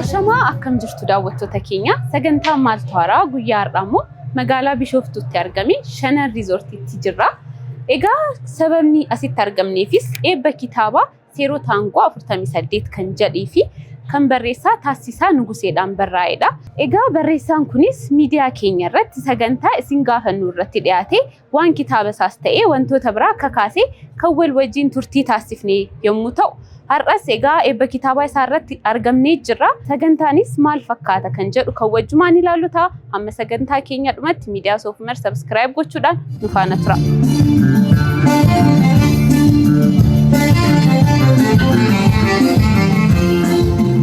Ashamaa akkam jirtu daawwattoota keenya sagantaa maaltu haaraa guyyaa har'aa immoo magaalaa Bishooftuutti argame Shanan Riizoortiitti jirra. Egaa sababni asitti argamneefis eebba kitaabaa Seeroo taangoo 48 kan jedhee fi kan barreessaa Taassisaa Nuguseedhaan barraa'edha. Egaa barreessaan kunis miidiyaa keenya irratti sagantaa isin gaafannu irratti dhiyaatee waan kitaaba isaas ta'ee wantoota biraa kakaasee kan wal wajjin turtii taassifne yommuu ta'u, har'as egaa eebba kitaabaa isaa irratti argamnee jirra. Sagantaanis maal fakkaata kan jedhu kan wajjumaan ilaallu ta'a. Hamma sagantaa keenya dhumatti miidiyaa Soofumer sabskiraayib gochuudhaan nu faana tura.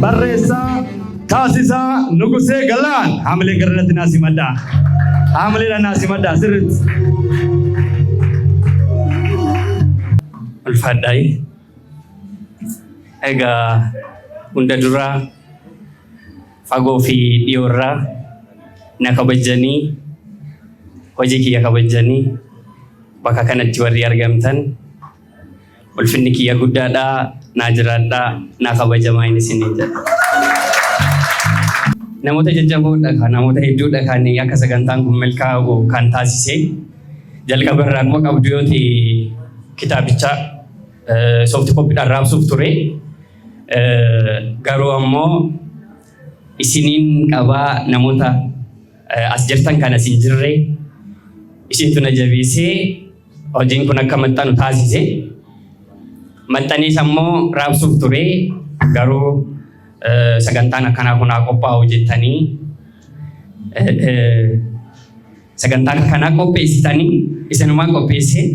Barreessaa Taasisaa Nugusee Galaan haamilee gara irratti naa simadhaa. Haamileedha naa simadhaa sirriitti. Ulfaadhaayi. Egaa hunda duraa Fagoo fi dhiyoo irraa na kabajjanii hojii kiyya kabajjanii bakka kanatti warri argamtan ulfinni kiyya guddaadhaa naa jiraadhaa naa kabajamaa hin isiniin jedha. Namoota jajjaboodha kan namoota hedduudha kan akka sagantaan kun milkaa'u kan taasise jalqaba irraa akkuma qabdu yoo ta'e kitaabicha soofti koppiidhaan raabsuuf ture. Garuu ammoo isiniin qabaa namoota as jirtan kan as hin jirre isintu na jabeessee hojiin kun akka maxxanu taasise. Maxxanees ammoo raabsuuf ture garuu sagantaan akkanaa kun haa qophaa'u jettanii sagantaa kanaa qopheessitanii isinumaa qopheessee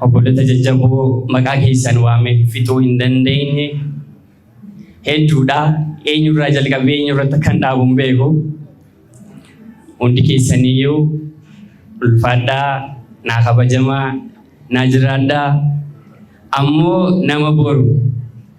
Obbolota jajjaboo maqaa keessan waame fixuu hin dandeenye hedduudha. Eenyurraa jalqabee eenyurratti akkan dhaabu hin beeku. Hundi keessaniyyuu ulfaadhaa, naa kabajamaa, naa jiraadhaa. Ammoo nama boru.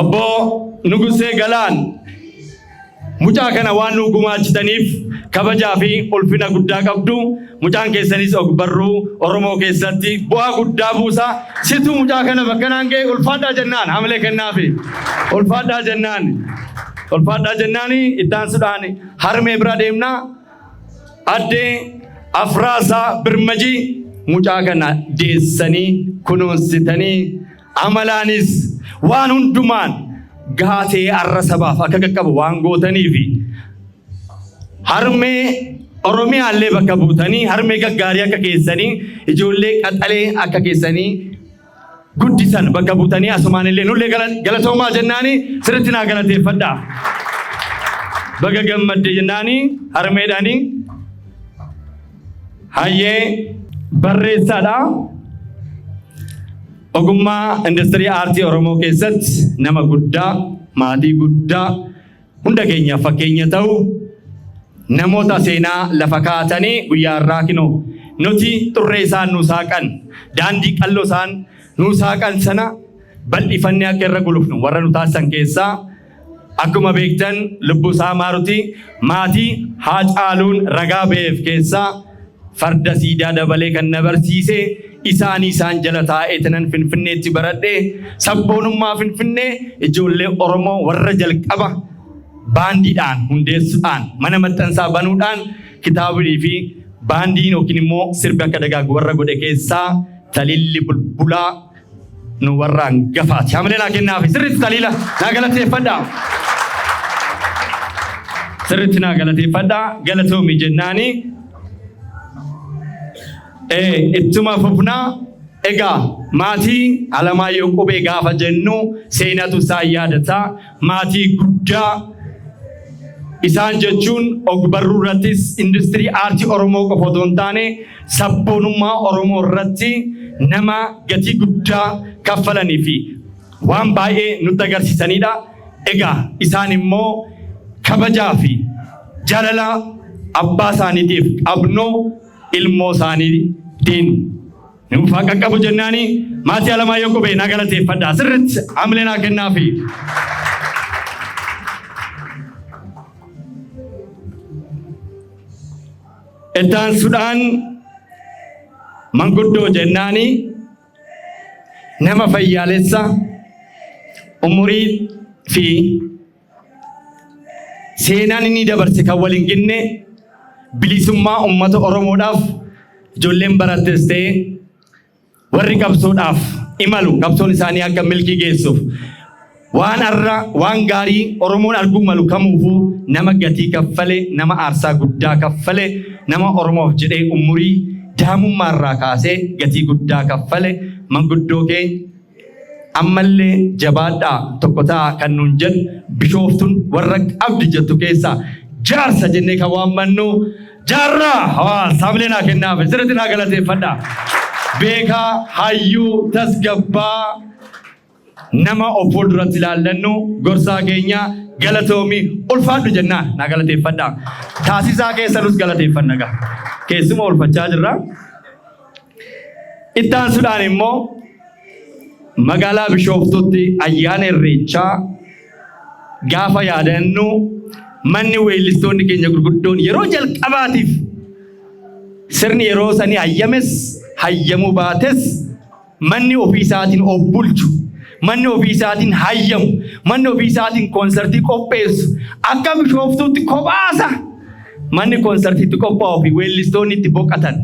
Obbo Nugusee Galaan mucaa kana waan nuu gumaachitaniif kabajaa fi ulfina guddaa qabdu mucaan keessanis ogbarruu Oromoo keessatti bu'aa guddaa buusa situ mucaa kana bakka naan ga'e ulfaadhaa jennaan hamilee kennaafi ulfaadhaa jennaan ulfaadhaa jennaan ittaansuudhaan harmee bira deemna addee afraasaa birmajii mucaa kana deessanii kunuunsitanii Amalaanis waan hundumaan gahaa ta'ee arra sabaaf akka qaqqabu waan gootaniifi harmee Oromiyaa illee bakka buutanii harmee gaggaarii akka keessanii ijoollee qaxalee akka keessanii guddisan bakka buutanii asumaan illee nullee gala- galatoomaa jennaani sirritti naa galateeffadha. Baga gammadde jennaani harmeedhaani Hayyee barreessaadha. Ogummaa industirii aartii Oromoo keessatti nama guddaa, maatii guddaa, hunda keenyaaf fakkeenya ta'u namoota seenaa lafa kaa'atanii guyyaa irraa kinoo nuti xurree isaan nuu saaqan daandii qalloo isaan nuu saaqan sana bal'ifannee akka irra gulufnu warra nu taasisan keessaa Akkuma beektan Lubbusaa Maaruti maatii Haacaaluun ragaa baheef keessaa farda siidaa dabalee kan na barsiise isaanii isaan jala taa'eetinan Finfinneetti baradhe sabboonummaa Finfinnee ijoollee Oromoo warra jalqaba baandiidhaan hundeessuudhaan mana maxxansaa banuudhaan kitaabii fi baandiin yookiin immoo sirbi akka dagaagu warra godhe keessaa Talilli Bulbulaa nu warra hangafaati. Hamilee naa kennaafi sirriitti taliila naa galateeffadha. Sirriitti naa galateeffadha galatoomi jennaani. Ee ittuma fufna egaa maatii Alamaayyoo Qubee gaafa jennu seenatu isaa yaadata. Maatii guddaa isaan jechuun ogbarruu irrattis industirii aartii Oromoo qofa otoo hin taane sabboonummaa Oromoo irratti nama gatii guddaa kaffalanii fi waan baay'ee nutti agarsiisanidha. Egaa isaan immoo kabajaa fi jaalala abbaa isaaniitiif qabnu ilmoo isaaniitiin Nuuf haa qaqqabu jennaani maatii Alamaayyoo Qubee naa galateeffadha. Sirriitti hamilee naa kennaafi. Itti aansuudhaan manguddoo jennaani nama fayyaalessa umurii fi Seenaan inni dabarse kan wal hin ginne bilisummaa uummata Oromoodhaaf ijoolleen barattes ta'e warri qabsoodhaaf imalu qabsoon isaanii akka milkii geessuuf waan har'a waan gaarii Oromoon arguu malu kamuufuu nama gatii kaffale nama aarsaa guddaa kaffale nama Oromoof jedhee umurii daa'imummaarraa kaasee gatii guddaa kaffale manguddoo keenya Ammallee jabaadhaa tokko ta'aa kan nuun jedhu Bishooftuun warra qabdi jettu keessaa jaarsa jennee kan waammannu Jaarraa Hawaas haamilee naa kennaafi sirriitti naa galateeffadha. Beekaa, hayyuu, tasgabbaa nama of fuulduratti ilaallannu gorsaa keenya galatoomi ulfaadhu jennaa naa galateeffadha. Taasisaa keessanus galateeffanna gaa. Keessuma ulfachaa jirra. Itti aansuudhaan immoo magaalaa Bishooftuutti ayyaana Irreechaa gaafa yaadannu manni weellistoonni keenya gurguddoon yeroo jalqabaatiif sirni yeroo sanii hayyames hayyamuu baates manni ofii isaatiin of bulchu manni ofii isaatiin hayyamu manni ofii isaatiin koonsartii qopheessu akka Bishooftuutti kophaasa manni koonsartiitti qophaa'uu fi weellistoonni itti boqatan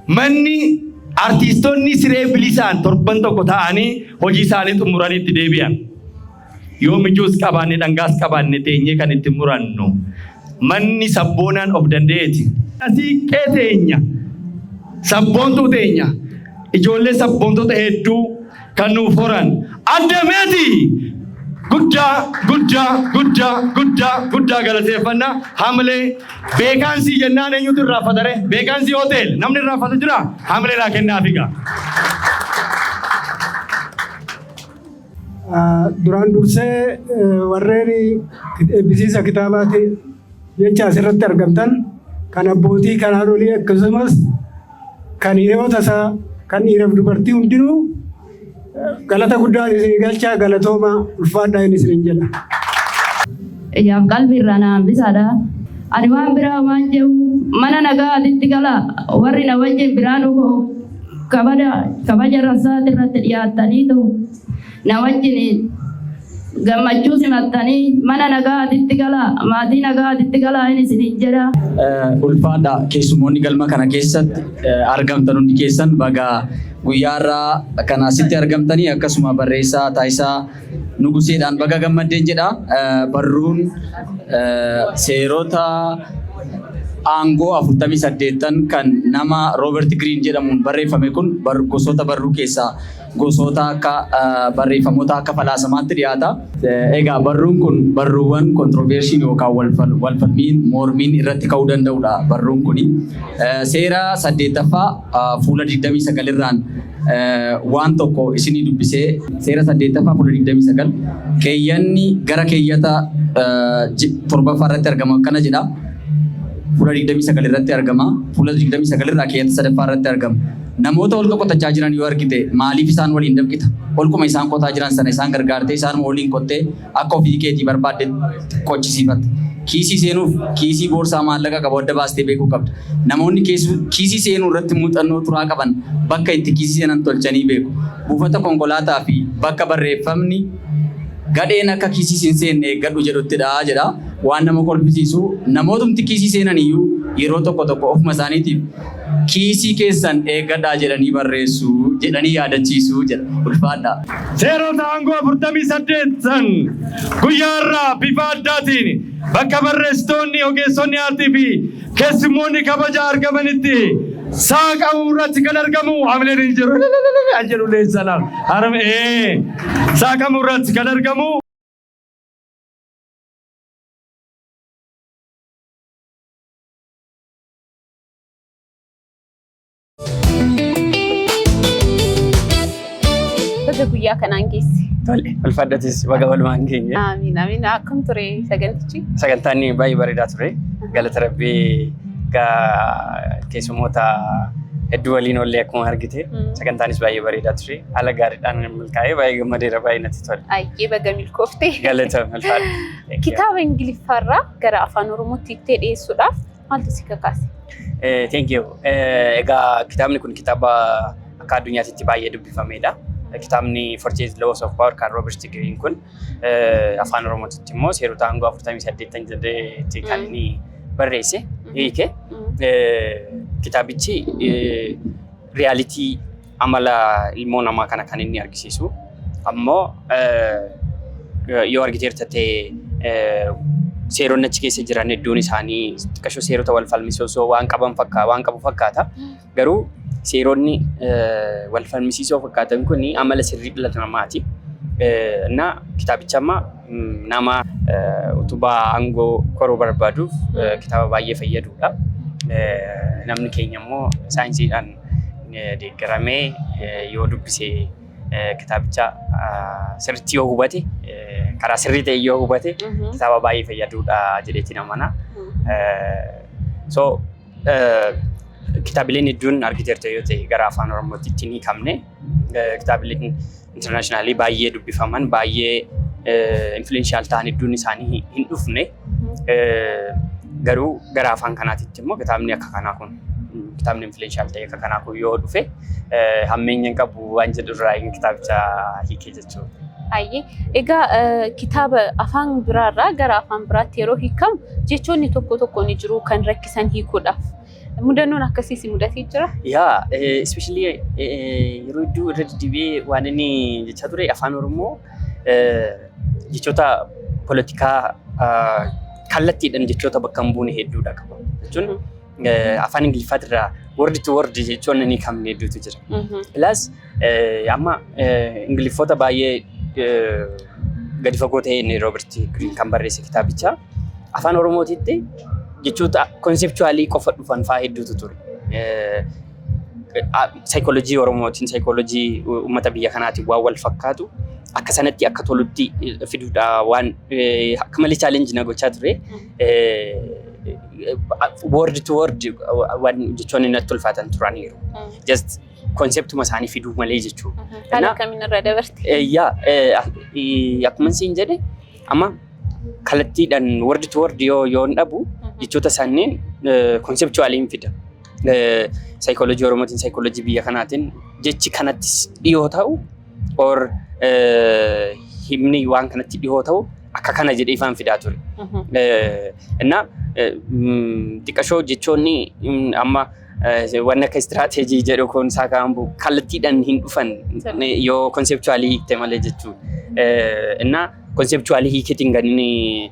Manni artiistonni siree bilisaan torban tokko ta'anii hojii isaanii xumuranii itti deebi'an. Yoo mijuus qabaanne dhangaas qabaanne teenyee kan itti murannu manni sabboonaan of danda'eeti. Siiqqee teenya, sabboontuu teenya, ijoollee sabboontota hedduu kan nuuf horan adda meetii guddaa guddaa guddaa guddaa guddaa galateeffanna hamilee beekaansii jennaan eenyutu irraaffatare beekaansii hotel namni irraaffatu jira hamilee laa kennaa figa. Duraan dursee warreen eebbisiisa kitaabaati jecha asirratti argamtan kan abbootii kanaan olii akkasumas Kan hiriyoota isaa, kan dhiiraaf dubartii hundinuu galata guddaa isinii galchaa galatoomaa ulfaadhaa inni isiniin jedha. Ijaaf qalbi irraa na hambisaadha. Ani waan biraa homaan jehu mana nagaa atitti gala warri na wajjin biraanuu koo kabada kabaja rassaati irratti dhiyaattaniitu na wajjin Gammachuu simattanii mana nagaatitti galaa, maatii nagaatitti galaa hin isiniin jedha. Ulfaadha keessumoonni galma kana keessatti argamtan hundi keessan baga guyyaa irraa kan asitti argamtanii akkasuma barreessaa taasisaa nuguseedhaan baga gammaddeen jedha. Barruun seerota aangoo 48 kan nama Roobert Giriin jedhamuun barreeffame kun gosoota barruu keessaa Gosoota akka barreeffamoota akka falaasamaatti dhiyaata. Egaa barruun kun barruuwwan kontrovershiin yookaan walfalmiin mormiin irratti ka'uu danda'udha barruun kuni. Seera saddeettaffaa fuula 29 irraan waan tokko isinii dubbisee seera saddeettaffaa fuula 29 keeyyanni gara keeyyata torbaffaa irratti argamu akkana jedha. Fuula 29 irratti argama. Fuula 29 irraa keeyyata sadaffaa irratti argama. Namoota holqa qotachaa jiran yoo argite maaliif isaan waliin dafqita? Holquma isaan qotaa jiran sana isaan gargaartee isaanuma waliin qottee akka ofii keetii barbaaddetti qochisiifatta. Kiisii seenuuf kiisii boorsaa maallaqa qabu adda baastee beekuu qabda. Namoonni kiisii seenuu irratti muuxannoo turaa qaban bakka itti kiisii seenan tolchanii beeku. Buufata konkolaataa fi bakka barreeffamni Gadheen akka kiisiis hin seenne eeggadhu jedhuttidha jedha. Waan nama kolfisiisu namootumti kiisii seenan iyyuu yeroo tokko tokko ofuma isaaniitiif kiisii keessan eeggadhaa jedhanii barreessu jedhanii yaadachiisu jedha. Ulfaadhaa. Seerota aangoo 48 san guyyaa irraa bifa addaatiin bakka barreessitoonni, ogeessonni aartii fi keessummoonni kabaja argamanitti saaqamuu irratti kan argamu hamileen hin jiru. Jedhu leensala. Saaqamuu irratti kan argamu. Baga guyyaa kanaan geesse. Tole, ulfaadhatis baga walumaan geenye. Amiin amiin akkam ture sagantichi? Sagantaan baay'ee bareedaa ture. Galata Rabbii gaa keessummoota hedduu waliin ollee akkuma argite. Sagantaanis baay'ee bareedaa ture. Haala gaariidhaan milkaa'ee baay'ee gammadeera baay'ee natti tole. Ayyee baga milkoofte. Galata ulfaadha. Kitaaba Ingiliffaarraa gara afaan Oromootti itti dhiyeessuudhaaf maaltu si kakaase? Eh, Thank you. Eh, Egaa kitaabni kun kitaaba akka addunyaatti baay'ee dubbifamedha. Kitaabni Fortune Laws of Power kan Robert Greene kun eh, afaan Oromootitti immoo seerota aangoo 48 jedheetti kan Mm. inni barreesse hiike. Mm. Eh, Kitaabichi eh, riyaalitii amala ilmoo namaa kana kan inni argisiisu ammoo yoo argiteerta ta'e seeronni achi keessa jiran hedduun isaanii xiqqashoo seerota wal falmisiisoo waan qaban fakkaata waan qabu fakkaata garuu seeronni wal falmisiisoo fakkaatan kun amala sirrii dhala namaati. እና ኪታብቻማ nama utubaa aangoo koruu barbaaduuf kitaaba baay'ee fayyaduudha. Namni keenya immoo saayinsiidhaan deeggaramee yoo dubbise kitaabicha sirriitti yoo hubate karaa sirrii ta'e yoo hubate kitaaba baay'ee fayyaduudha jedheetiin amana. So kitaabileen hedduun argiteerta yoo ta'e gara afaan oromootti ittiin hiikamne kitaabileen internationally baay'ee dubbifaman baay'ee influential ta'an hedduun isaanii hin dhufne garuu gara afaan kanaatitti immoo kitaabni akka kanaa kun kitaabni influential ta'e akka kanaa kun yoo dhufe hammeenya hin qabu waan jedhu irraa inni kitaabicha hiikee jechuudha. Baay'ee. Egaa kitaaba afaan biraarraa gara afaan biraatti yeroo hiikamu jechoonni tokko tokko ni jiru kan rakkisan hiikuudhaaf. Mudannoon akkasii si mudatee jira? Yaa, especially yeroo hedduu irra deddeebi'ee waan inni jechaa ture afaan Oromoo jechoota poolitikaa kallattiidhaan jechoota bakka hin buune hedduudha qaba. Jechuun afaan Ingiliffaatirraa word to word jechoonni inni hin qabne hedduutu jira. Plus Amma Ingiliffoota baay'ee gadi fagoo ta'een Roobert Giriin kan barreesse kitaabicha afaan Oromootiitti jechoota konsepchuwaalii qofa dhufan fa'aa hedduutu ture. Saayikoolojii Oromootiin saayikoolojii uummata biyya kanaatiin waan wal fakkaatu akka sanatti akka tolutti fiduudha waan akka malee chaalenji na gochaa ture. Word to word waan jechoonni natti ulfaatan turaniiru. Just konseptuma isaanii fiduu malee jechuudha. Haala Innaa- akkamiin irra dabarte? Eh, yaa eh, ak- eh, akkuma siin jedhe amma kallattiidhaan word to word yoo yoo hin dhabu jechoota isaaniin konsepchuwaaliin fida. Saayikooloojii Oromootiin saayikooloojii biyya kanaatiin jechi kanatti dhiyoo ta'u or eh, himni waan kanatti dhiyoo ta'u akka kana jedhee ifaan fidaa ture. Eh, Innaa eh, mm, xiqqashoo jechoonni mm, amma Wanni akka istiraateejii jedhu kun isaa kaambu kallattiidhaan hin dhufan yoo konsepchuwaalii hiikte malee jechuudha. Inna konsepchuwaalii hiiketiin kan inni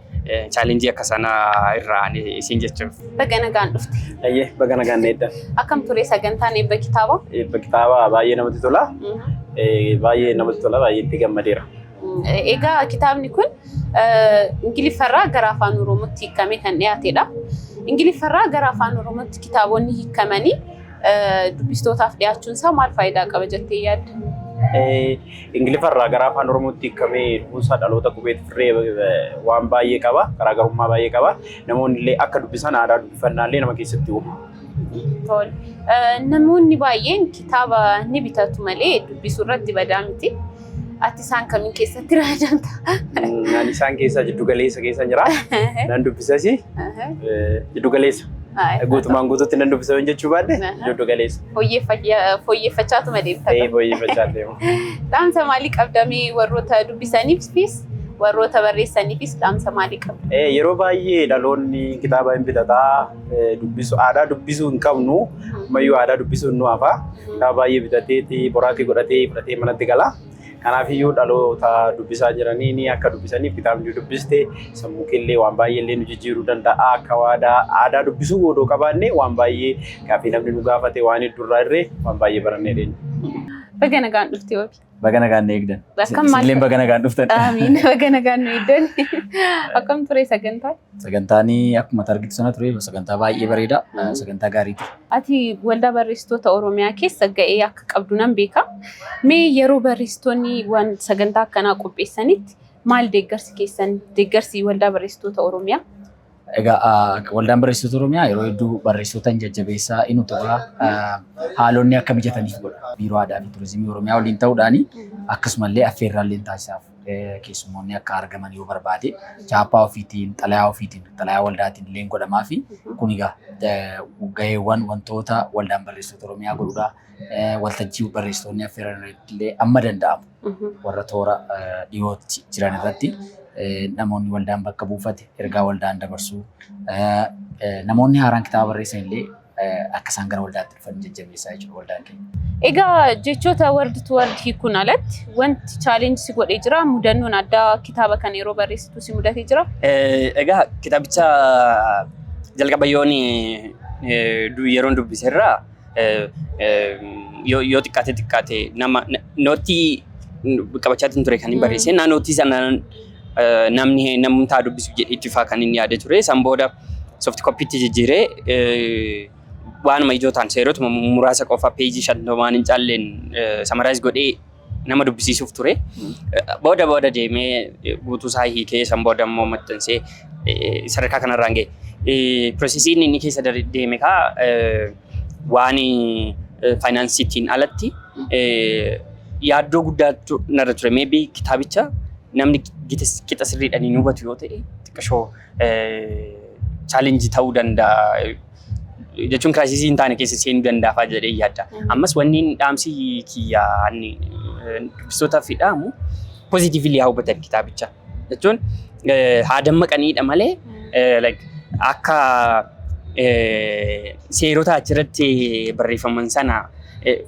chaalenjii akka sanaa irraa isin jechuuf. Baga nagaan dhufte. Ayyee baga nagaan dheedda. Akkam ture sagantaan eebba kitaaba? Eebba kitaaba baay'ee namatti tola. Baay'ee namatti tola baay'ee itti gammadeera. Egaa kitaabni kun Ingiliffarraa gara afaan Oromootti hiikamee kan dhiyaatedha. Ingiliffarraa gara afaan Oromootti kitaabonni hiikamanii dubbistootaaf dhiyaachuun isaa maal faayidaa qaba jettee yaadda? Ingiliffarraa gara afaan Oromootti hiikamee dhufuunsaa dhaloota qubee turree waan baay'ee qaba. Garaagarummaa baay'ee qaba. Namoonni illee akka dubbisan aadaa dubbifannaa illee nama keessatti uuma. Tole. Namoonni baay'een kitaaba ni bitatu malee dubbisuu irratti badaa miti. Ati isaan kamiin keessatti ramadamta? Naan isaan keessaa jiddu galeessa keessa jira. Nan dubbisas jiddu galeessa. Guutumaan guutuutti nan dubbisa hin jechuu baadhe jiddu galeessa. Fooyyeffachaatuma deemta. Ta'ee fooyyeffachaa deema. Dhaamsa maalii qabdamee warroota dubbisaniifis warroota barreessaniifis dhaamsa maalii qabda? Yeroo baay'ee dhaloonni kitaaba hin bitataa dubbisu aadaa dubbisuu hin qabnu ammayyuu aadaa dubbisuun nu hafa kaa baay'ee bitateeti boraatii godhatee fudhatee manatti gala kanaaf iyyuu dhaloota dubbisaa jiranii ni akka dubbisaniif kitaabni dubbiste sammuu keellee waan baay'ee illee nu jijjiiruu danda'a akka waadaa aadaa dubbisuu odoo qabaanne waan baay'ee gaaffii namni nu gaafate waan heddurraa irree waan baay'ee barannee deenya. Baga nagaan dhufte wabi. Baga nagaan na eegdan. Akkam maal- Isinillee baga nagaan dhuftan. Aamiin. Baga nagaan nu eegdan. Akkam ture sagantaa? Sagantaan akkuma argitu sana ture sagantaa baay'ee bareeda. Mm. Sagantaa gaarii ture. Ati waldaa barreessitoota Oromiyaa keessa ga'ee akka qabdu nan beeka. Mee yeroo barreessitoonni waan sagantaa akkanaa qopheessanitti maal deeggarsi keessan deeggarsi waldaa barreessitoota Oromiyaa? Egaa waldaan barreessitoota Oromiyaa yeroo hedduu barreessitoota hin jajjabeessaa hin utubaa haalonni akka mijataniif godha. Biiroo Aadaa fi Turizimii Oromiyaa waliin ta'uudhaan akkasumallee affeerraallee taasisaaf keessummoonni akka argaman yoo barbaade chaappaa ofiitiin xalayaa ofiitiin xalayaa waldaatiin illee godhamaa fi kun egaa gaheewwan wantoota waldaan barreessitoota Oromiyaa godhudha. waltajjii barreessitoonni affeeran irratti illee amma danda'amu warra toora dhiyootti jiran irratti namoonni waldaan bakka buufate ergaa waldaan dabarsuu namoonni haaraan kitaaba barreessan illee akka isaan gara waldaatti dhufan jajjabeessaa jechuudha waldaan keenya. Egaa jechoota word to word hiikuun alatti wanti challenge si godhee jira mudannoon addaa kitaaba kana yeroo barreessitu si mudatee jira. Egaa kitaabicha jalqaba yoon yeroon dubbiserraa yoo xiqqaate xiqqaate nama nootii qabachaa ture kan hin barreesse naa nootii sana namni namumtaa dubbisuuf jedhee itti faa kan inni yaade ture san booda soft koppiitti jijjiiree waanuma ijoo ta'an seerotuma muraasa qofa peejii shantamaan hin caalleen samaraayis godhee nama dubbisiisuuf ture. Booda booda deemee guutuu isaa hiikee san booda immoo maxxansee sadarkaa kanarraan ga'e. Piroosesiin inni keessa deeme kaa waan faayinaansiitiin alatti yaaddoo guddaatu narra ture. Meebii kitaabicha namni qixa sirriidhaan hin hubatu yoo ta'e xiqqashoo challenge ta'uu danda'a jechuun kiraayisisii hin taane keessa seenuu danda'a jedhee yaadda. Ammas wanni dhaamsi kiyya ani dubbistootaaf dhaamu pozitiivili haa hubatan kitaabicha jechuun haa dammaqaniidha malee akka seerota achirratti barreeffaman sana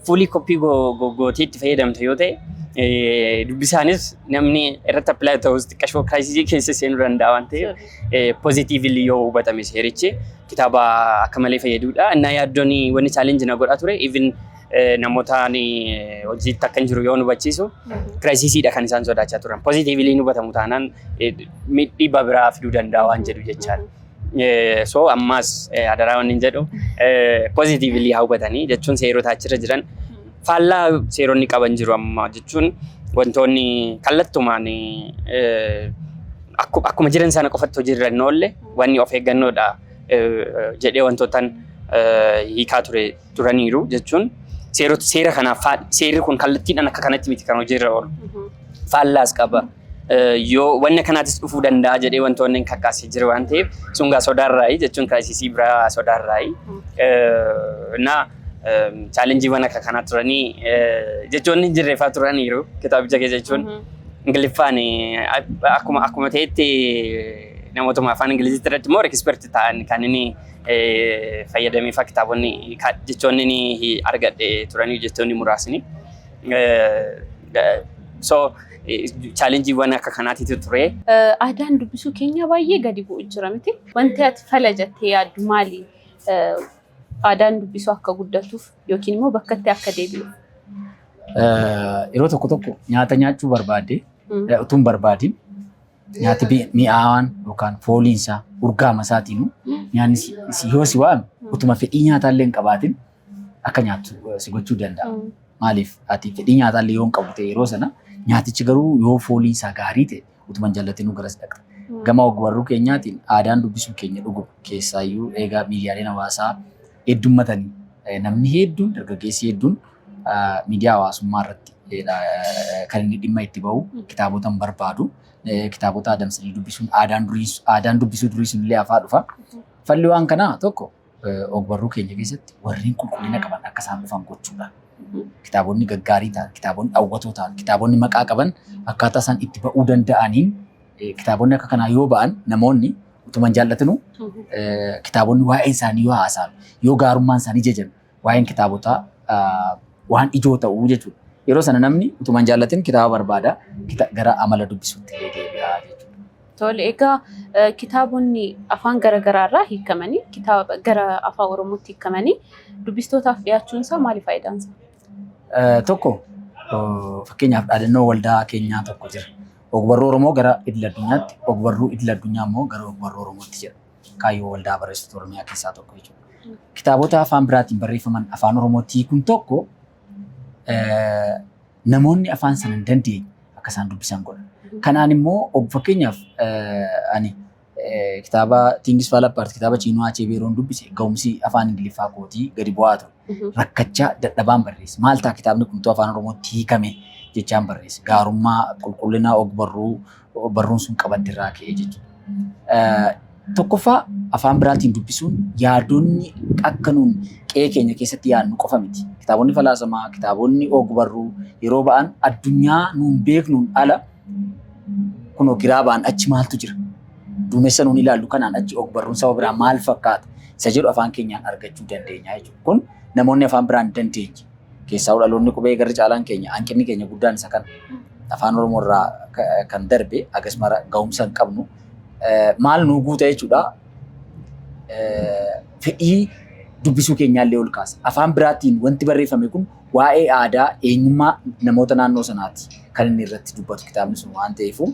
Fuulii koppii gootii itti fayyadamta yoo ta'e dubbisaanis namni irratti apply ta'us xiqqashoo kiraayisisii keessa seenuu danda'a waan ta'eef pozitiivili yoo hubatame seerichi kitaaba akka malee fayyadudha. Innaa yaaddoon wanni chaalenji na godhaa ture even namootaan hojiitti akka hin jiru yoo hubachiisu kiraayisisiidha kan isaan sodaachaa turan. Pozitiivili hin hubatamu taanaan dhiibbaa biraa fiduu danda'a waan jedhu jechaadha. Eh, so ammaas eh, adaraa wanni hin jedhu pozitiivili haa hubatanii jechuun seerota achirra jiran faallaa seeronni qaban jiru amma jechuun wantoonni kallattumaan eh, akku- akkuma jiran sana qofatti hojiirra hin oolle wanni of eeggannoodha eh, jedhee wantootan eh, hiikaa ture turaniiru jechuun seerota seera kanaaf faal- seerri kun kallattiidhaan akka kanatti miti kan hojiirra oolu faallaas qaba. yoo wanni akkanaatis dhufuu danda'a jedhee wantoonni hin kakkaasee jiru waan ta'eef sun gaa sodaarraayi jechuun kiraayisisii biraa sodaarraayi. Na chaalenjiiwwan akka kanaa turanii jechoonni hin jirreeffaa turaniiru kitaabicha keessa jechuun Ingiliffaan akkuma akkuma ta'etti namootuma afaan Ingiliziitti irratti immoo ekisperti ta'an kan inni fayyadamee fa'aa kitaabonni jechoonni ni argadhe turanii jechoonni muraasni. So chaalenjiiwwan akka kanaatiitu ture. Aadaan dubbisuu keenya baay'ee gadi bu'u jira miti. Wanti ati fala jettee yaaddu maali? Aadaan dubbisuu akka guddatuuf yookiin immoo bakka itti akka deebi'u. Yeroo tokko tokko nyaata nyaachuu barbaadde utuu hin barbaadin nyaati mi'aawaan yookaan fooliin isaa urgaama isaatiin nyaanni yoo si waame utuma fedhii nyaataa illee hin qabaatin akka nyaattu eh, si gochuu danda'a. Mm. Maaliif ati fedhii nyaataa illee yoo hin qabdu ta'e yeroo sana nyaatichi garuu yoo fooliin isaa gaarii ta'e utuman jallatinuu garas dhaqxa. Mm. Gama ogbarruu keenyaatiin aadaan dubbisuu keenya dhuguma keessaayyuu eegaa miidiyaaleen hawaasaa heddummatanii eh, namni hedduun dargaggeessi hedduun ah, miidiyaa hawaasummaa irratti eh, dha, eh, kan inni dhimma itti bahu Mm. kitaabota hin barbaadu. Eh, Kitaabota adamsanii dubbisuun aadaan durii- aadaan dubbisuu durii sun illee hafaa dhufa. Falli waan kanaa tokko Ogbarruu keenya keessatti warreen qulqullina qaban akka isaan dhufan gochuudha. Kitaabonni gaggaarii ta'an, kitaabonni hawwatoo ta'an, kitaabonni maqaa qaban akkaataa isaan itti ba'uu danda'aniin kitaabonni akka kanaa yoo ba'an namoonni utuma hin jaallatinu kitaabonni waa'ee isaanii yoo haasa'an, yoo gaarummaan isaanii jajan waa'een kitaabotaa waan ijoo ta'uu jechuudha. Yeroo sana namni utuma hin jaallatin kitaaba barbaada gara amala dubbisuutti deebi'a jechuudha. Tole, egaa kitaabonni afaan gara garaa irraa hiikamanii kitaaba gara afaan Oromootti hiikamanii dubbistootaaf dhiyaachuun isaa maali faayidaan isaa? Tokko fakkeenyaaf dhaadannoo waldaa keenyaa tokko jira. Ogbarruu Oromoo gara idil addunyaatti, ogbarruu idil addunyaa immoo gara ogbarruu Oromootti jedha. Kaayyoo waldaa barreessitoota Oromiyaa keessaa tokko jechuudha. Kitaabota afaan biraatiin barreeffaman afaan Oromootti hiikuun tokko namoonni afaan sana hin dandeenye akka isaan dubbisan godha. Kanaan immoo fakkeenyaaf ani kitaaba Tingis Faala Appaart kitaaba Chiinoo Achee Beeroon dubbise ga'umsi afaan Ingiliffaa kootii gadi bu'aa ture. Mhm. Rakkachaa dadhabaan barreesse. Maal ta'a kitaabni kun utuu afaan Oromootti hiikame jechaan barreesse. Gaarummaa, qulqullina, ogbarruu, barruun sun qabadde irraa ka'e jechuudha. Tokkoffaa afaan biraatiin dubbisuun yaadonni akka nuun qe'ee keenya keessatti yaadnu qofa miti. Kitaabonni falaasamaa, kitaabonni ogbarruu yeroo ba'an addunyaa nuun beeknuun ala kunoo giraa ba'an achi maaltu jira? Duumessa nuun ilaallu kanaan achi ogbarruun saba biraa maal fakkaata? Isa jedhu afaan keenyaan argachuu dandeenya jechuudha. Kun namoonni afaan biraan dandeenye Keessaa'uu dhaloonni qubee garri caalaan keenya hanqinni keenya guddaan isa kana. Afaan Oromoo irraa ka- kan darbe agas mara ga'umsa hin qabnu. Eh, Maal nuu guuta jechuudha. Eh, Fedhii dubbisuu keenyaallee ol kaasa. Afaan biraatiin wanti barreeffame kun waa'ee aadaa eenyummaa namoota naannoo sanaati kan inni irratti dubbatu kitaabni sun waan ta'eefu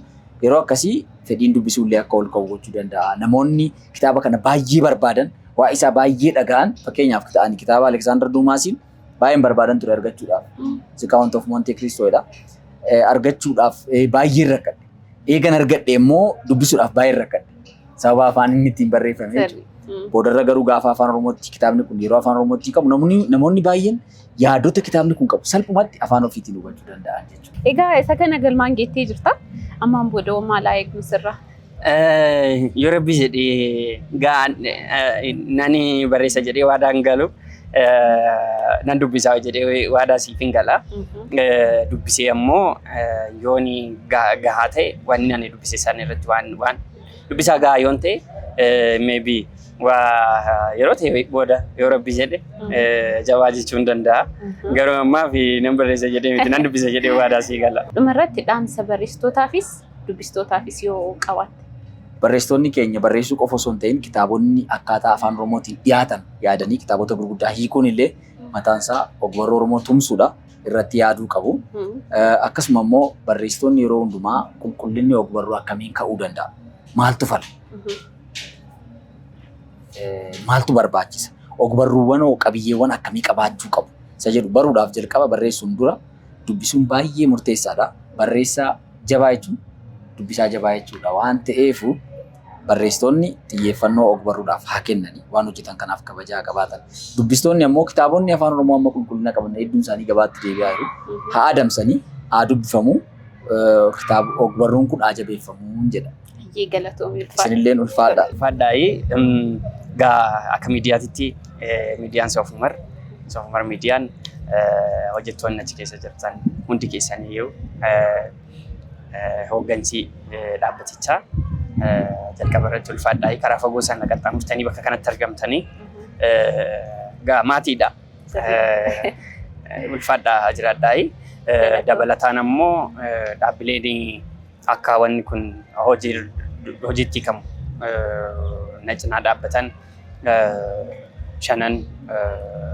yeroo akkasii fedhiin dubbisuullee akka ol ka'u gochuu danda'a. Namoonni kitaaba kana baay'ee barbaadan waa isaa baay'ee dhaga'an fakkeenyaaf ta'anii kitaaba Aleksaandar Duumaasiin baay'een barbaadan ture argachuudhaaf. The Count of Monte Cristo dha. Argachuudhaaf baay'een rakkadhe. Eegan argadhe immoo dubbisuudhaaf baay'een rakkadhe. Sababa afaan inni ittiin barreeffame jechuudha. Boodarra garuu gaafa afaan Oromootti kitaabni kun yeroo afaan Oromootti qabu namoonni namoonni baay'een yaadota kitaabni kun qabu salphumatti afaan ofiitiin hubachuu danda'an jechuudha. Egaa isa kana galmaan geettee jirta. Ammaan booda maal haa eegnu sirraa? Eh, Yoo rabbi jedhee ga'aan eh, nani barreessa jedhee waadaan galu eh, nan dubbisaa jedhee waadaa siif hin gala. Eh, dubbisee ammoo eh, yooni ga- gahaa ta'e waan ani dubbise sana irratti waan waan dubbisaa gahaa yoon ta'e eh, maybe waa yeroo ta'e booda yoo rabbi jedhe eh, jabaa jechuu hin danda'a. Garuu ammaa fi nan barreessa jedhee miti nan dubbisa jedhee waadaa sii gala. Dhuma irratti dhaamsa barreessitootaafis dubbistootaafis yoo qabaatte. Barreessitoonni keenya barreessuu qofa osoo hin ta'in kitaabonni akkaataa afaan Oromootiin dhiyaatan yaadanii kitaabota gurguddaa hiikuun illee mataan isaa ogbarruu Oromoo tumsuudha. Irratti yaaduu qabu. Akkasuma immoo barreessitoonni yeroo hundumaa qulqullinni ogbarruu akkamiin ka'uu danda'a? Maaltu fala? Maaltu barbaachisa? Ogbarruuwwan hoo qabiyyeewwan akkamii qabaachuu qabu? Isa jedhu baruudhaaf jalqaba barreessuun dura dubbisuun baay'ee murteessaadha. Barreessaa jabaa jechuun dubbisaa jabaa jechuudha waan ta'eef barreessitoonni xiyyeeffannoo ogbarruudhaaf haa kennan waan hojjetan kanaaf kabajaa haa qabaatan. Dubbistoonni ammoo kitaabonni afaan oromoo amma qulqullina qaban hedduun isaanii gabaatti deebi'aa jiru. Haa adamsanii haa dubbifamu kitaaba ogbarruun kun haa jabeeffamu jedha. Baay'ee galatoomi ulfaadha. Isinilleen ulfaadha. Fadhaayii gaa akka miidiyaatitti eh, miidiyaan soofumar soofumar miidiyaan eh, hojjettoonni achi keessa jirtan hundi keessaniyyuu eh, eh, hooggansi eh, dhaabbatichaa eh, jalqaba irratti ulfaadhaayii karaa fagoo sana qaxxaamurtanii bakka kanatti argamtanii eh, gaa maatiidha. Eh, eh, ulfaadhaa jiraadhaayii. Eh, dabalataan ammoo eh, dhaabbileen Akka wanni kun hojiitti hiikamu na cinaa dhaabbatan shanan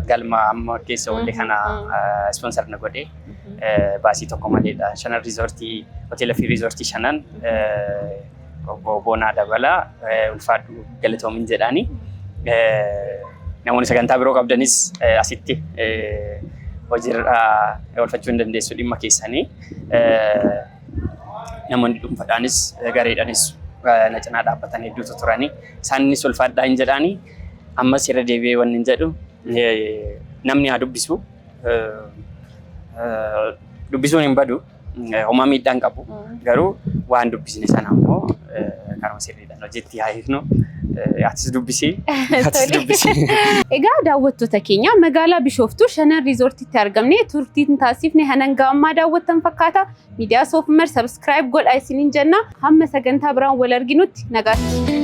galma amma keessa oolle kana ispoonsar na godhe baasii tokko maleedha. Shanan riizoortii hoteela fi riizoortii shanan obbo Boonaa Dabalaa ulfaadhu galatoomin jedhaani. Namoonni sagantaa biroo qabdanis asitti hojiirra oolfachuu hin dandeessu dhimma keessanii. namoonni dhuunfadhaanis gareedhaanis na cinaa dhaabbatan hedduutu turani. Isaanis ulfaadhaa hin jedhaani. Ammas irra deebi'ee wanni hin jedhu namni haa dubbisu. Dubbisuun hin badu. Homaa miidhaa hin qabu. Garuu waan dubbisne sana ammoo karuma sirriidha. No jetti haa hiiknu. Eh, Atis dubbisi. Atis dubbisi. Egaa daawwattoota keenya magaalaa Bishooftuu Shanan Riizoortiitti argamne turtiin taasifne hanga ammaa daawwattan fakkaata. Miidiyaa Soofumar sabiskiraayib godhaa isiniin jenna. Hamma sagantaa biraan wal arginutti nagaatti.